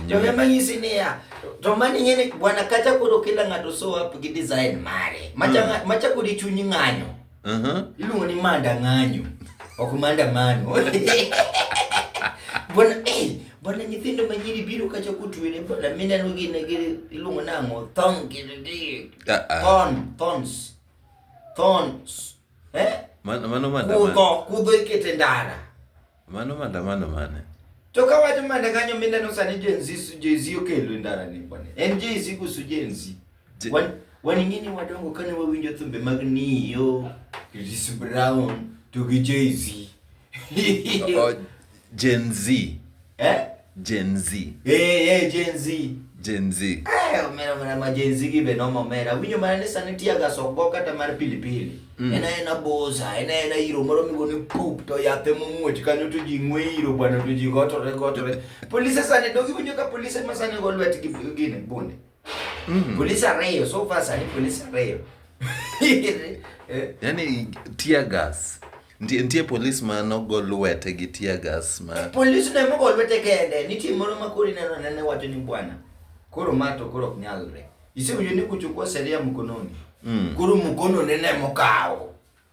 To ne manyisi niya, to mani ng'e ni bwana kacha koro kila ng'ato show up gi design mare. Macha ng'a- macha kodi chunyi ng'anyo. Mhm. Iluongo ni manda ng'anyo. Ok manda mano. Bwana eh bwana nyithindo ma nyiri biro kacha kutwere bwana mineno gin gi iluongo nang'o thong gi gi- Ah, ah. thon thons thons eh Man- Mano manda kudho kudho ikete ndara Mano maandamano mane? To ka wacho manda kanyo mineno sani Gen Z Gen Z okelo e ndara ni bwana. En Gen Z kusu Gen Z. Je- Wan- Wan ingini wadongo kane wawinjo thumbe mag Nio, Chris Brown to gi Jay Z. O- Gen Z. Eh? Gen Z. Eh, eh, Gen Z. Gen Z. Eh, omera omera ma Gen Z gi be noma omera. Winyo mana ni sani tiya ga sokgo kata mar pilipili. Mm. Ena ena boza, ena ena iro moro migo ni poop to yathe mumuoch kanyo to ji ng'we iro bwana to ji gotore gotore. Polise sani dogi winyo ka polise ma sani go lwet gi gine bunde. Mm. Polisi arreyo, so far sani polisi arreyo. Eh? Yaani tear gas. Nitie nitie polis ma nogo lwete gi tear gas ma Polisi ne mogo lwete kende, nitie moro ma kori neno nene wacho ni bwana. Koro ma to koro ok nyalre. Isewinjo ni kuchukua sheria mkononi. Mm. Koro mkono nene mokawo.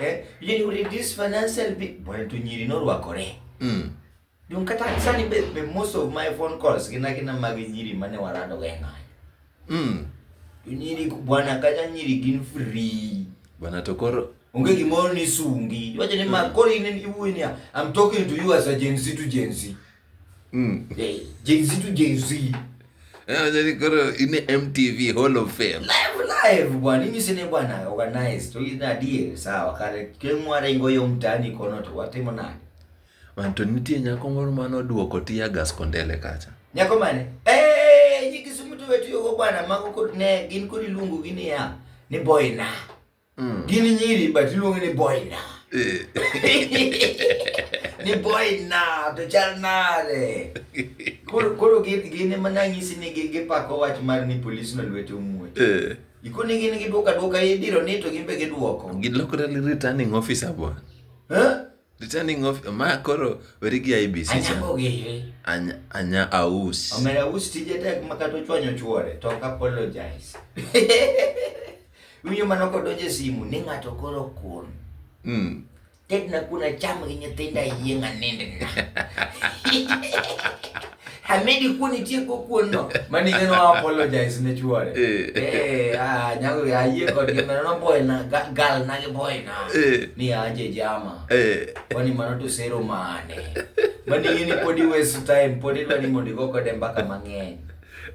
Eh, you know, reduce financial bill. Bwana tu nyiri no rwakore. Mm. Dun kata sani be, be most of my phone calls gina gina mag nyiri mane warado ga ng'ayo. Mm. Nyiri bwana kata nyiri gin free. Bwana to koro onge gimoro ni sungi. Wacho ni mm. makori ni iwuoyo ni I'm talking to you as a Gen Z to Gen Z. Mm. Hey, Jay-Z to Jay-Z. Yeah, then go to in the MTV Hall of Fame. Live live bwana, mimi sine bwana organize. Tu ina deal sawa kare kemwa rengo yo mtani kono to watimo nani. Manto nitie nyako moro mano duoko tiya gas kondele kacha. Nyako mane? Eh, nyikisumu to wetu yogo bwana mago kod ne gin kod iluongo gini ya ni boy na. Mm. Gin nyiri but iluongo ni boy na. Eh. ni boy na to chal nade. Koro koro gin ema nanyisi ni gipako wach mar ni polis no lwete omuoch. Eh. Ikoni gin gidwoka dwoka idiro ni to gin be gidwoko. Gilokore returning officer bwana. Eh? Returning of ma koro weri gi IBC cha. Anyango gire. Anya anya aus. Omera us tije tek ma kata ochwanyo chuore to ok apologize. Winyo mano kodonje simu ni ng'ato koro kun. Mm. Ted na kuna cham gi nyithinda yieng' anindna. Hamedi kuon itieko kuon no. Mani ngeno wa apologize ne chuore. Eh. eh ah nyago ya yie kod gi mano boy na gal na gi boy na. Eh. Ni aje jama. Eh. Kwani mano to sero mane. Mani ngini podi waste time podi dwani mondo go kode mbaka mang'eny.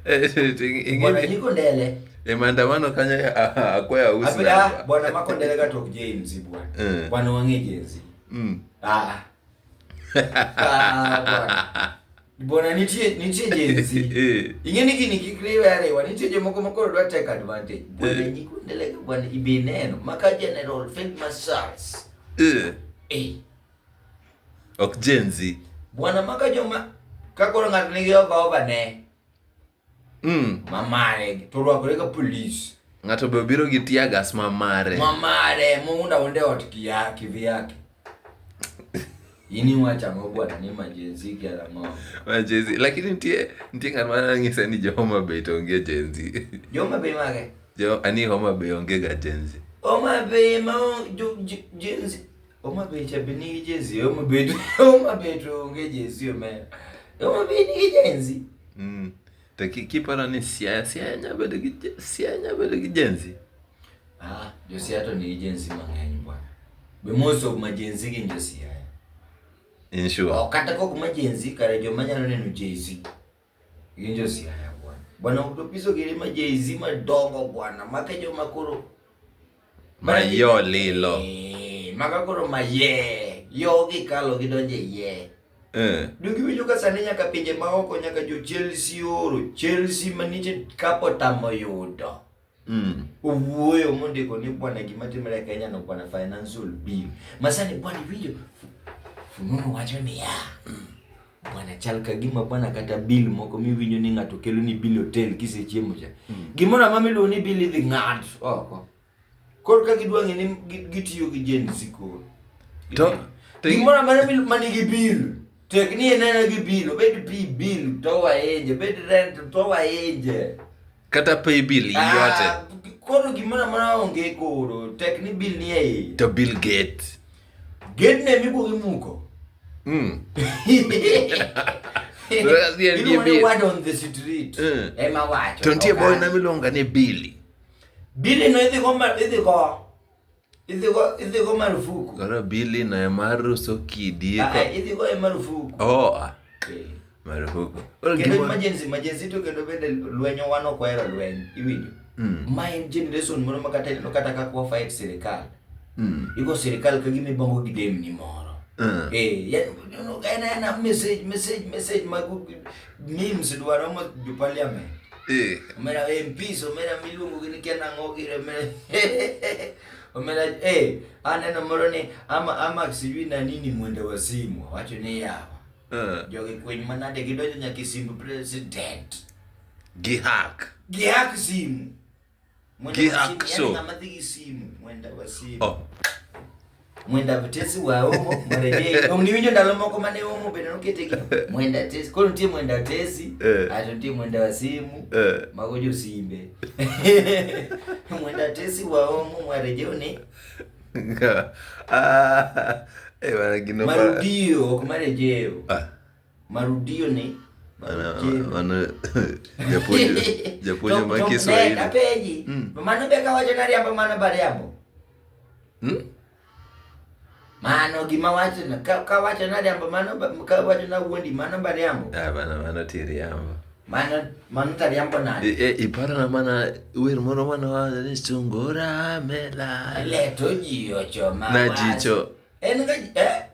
Eh, ingini. Bwana niko ndele. E maandamano kanyo akwaya usna. Bwana makondele ka tok James bwana. Bwana wang'e James. Mm. Ah. Ah, Bona nitie nitie jenzi. Eh. Ing'e ni gini kik riwe ariwa, nitie jomoko ma koro dwa take advantage. Bona eh. nyikundeleka bwana ibineno maka general field marshals. Eh. Eh. Ok jenzi. Bwana maka joma ka koro ng'ato nigi ova ova ne. Mm. Ma mare to rwakore ka police. Ng'ato be obiro gi tear gas ma mare. Ma mare muunda onde ot kia kivyake. Ini wacha mabwana ni majenzi kia mo. Majenzi lakini ntie ntie ng'at ma ng'ise ni jo Homa Bay to onge jenzi. Jo Homa Bay mage? Jo ani Homa Bay onge ga jenzi. Homa Bay ma jenzi Homa Bay cha bini jezi, Homa Bay, Homa Bay tuonge jezi omeya. Homa Bay ni jenzi. Mm. To kiparo ni Siaya, Siaya nya bedo gi Siaya nya bedo gi jenzi. Ah, jo Siaya to ni jenzi mang'eny bwana. Be most of ma jenzi gin jo Siaya. In sure. Okata kok ma jenzi kare jo manyalo neno jezi. Injo siaya bwana. Bwana utopiso kile majezi madongo bwana. Makejo makoro. Mayo lilo. Eh, makakoro maye. Yo gikalo gidonje ye. Eh. Dugi winjo ka sani nyaka pinje maoko nyaka jo Chelsea oro. Chelsea manite kapo tamo yudo. Mm. Owuoyo mondiko ni bwana gima timre e Kenya no bwana financial bill. Masani bwana video Fununu wacho ni ya. Mm. Bwana chal ka gima bwana kata bill moko miwinjo ni ng'ato kelo ni bill hotel kisechiemo cha. Mm. Gimoro amama iluongo ni bill idhi ng'ad oko. Koro ka gidwa ng'e ni gitiyo gi Gen Z koro. To gimoro amama manigi bill. Tek ni enena gi bill, obed pi bill to waeje, obed rent to waeje. kata pay bill yote Ah, koro gimoro amora onge koro tek ni bill ni e iye to bill gate gate ne mikuongo imuko mm. That's the end, Iluongo ni bill. word on the street Mm. ema wacho to nitie ok boy an. na miluonga ni billy Billy no idhi go ma- idhi go Idhigo marufuku. Koro bili na mar uso kidi. Ah, ah, idhigo e marufuku. Oh. Ah. Eh. Marufuku. Kendo emergency, emergency to kendo bende lwenyo wan ok wahero lweny. Iwinjo? Hmm. Ma en generation moro ma kata ineno kata kaka wa fight sirikal. Hmm. Igo sirikal ka gima ibongo gi demni moro. Hmm. Eh, en en message message message mag Memes dwaro mo jo parliament. Eh. Omera MPs, omera miluongo gi ni kiana ang'o gi omera. Omera eh aneno moro ni ama ama sijui na nini mwende wazimu wacho ni yawa. Eh. Jogi kweny manade gidonjo nyaka e simb president. Gi hack. Gi hack simu. gi akso oh. mwenda tesi wa omo marede ong niwinjo ndalo moko mane omo bende nokete gi mwenda tesi koro nitie mwenda tesi eh. ato nitie mwenda wa simu eh. mago jo simbe mwenda tesi wa omo mwareje ni ah, eh, marudio ok marejeo ah. Marudio ni japuonjo ma Kiswahili. Apenji. Hmm. Mano be kawacho ni ariambo mano bariambo. Hmm? Mano gima wacho na kawacho na ariambo mano kawacho na wuondi mano bariambo. Ah bana mano tiriambo. Mano mano tariambo na. E, e iparo na mana wer moro mano wacho ni sungura mela. Le to ji ocho ma. Na jicho. En ga eh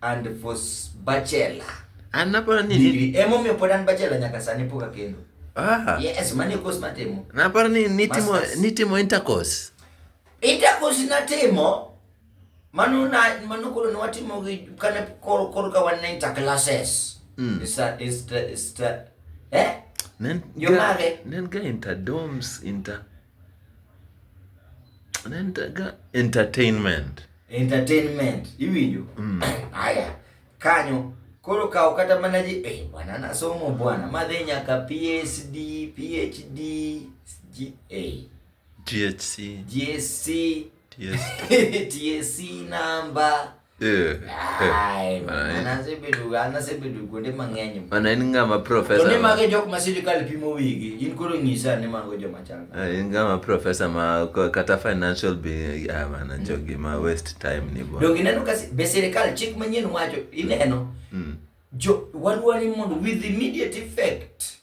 and for bachelor anapona nini degree emomiyo pod an bachelor nyaka sani pok akendo ah. yes mani course natimo naparo ni nitimo nitimo intercourse intercourse natimo mano na mano koro ne watimo gi kane koro koro ka wan ne interclasses mm. is a, is the, is the, eh? Nen, Yo mage. Nen ga inter domes inter Nentaga entertainment. Entertainment. Iwinjo? Mm. Aya. Kanyo koro kawo kata mana ji eh, bwana nasomo bwana madhi nyaka PhD, PhD, GA. GHC. GSC. TSC. TSC number. Eh, eh. Ai, Mana en- mana asebedo an asebedo kuonde mang'eny Mana en ng'ama to ni profesa. mago e jok ma sirikal pimo wigi in koro nyisa ni mago joma chal nade. Eh, En ng'ama profesa ma ko- kata financial be ah, mana jogi ma waste time ni bo. donge ineno ka si- be sirikal chik manyien wacho ineno Mm. jo wadwani mondo with immediate effect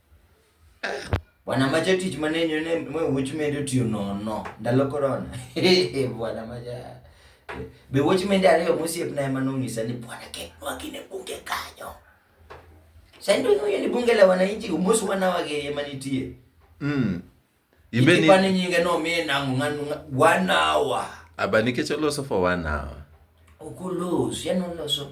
Bwana macha tich manenyo ne ma wuoch mende otiyo nono ndalo korona. Bwana macha. Be wuoch mende ariyo mosiepna ema nong'isa ni bwana ketnwa gine bunge kanyo. Sani to ing'eyo ni bunge la wananchi omos wanawa gi ema nitie. Mm. Ibe ni Ipani nyinge no mi nango ng'ano wanawa. aba nikech oloso for one hour. Okolos, yani oloso.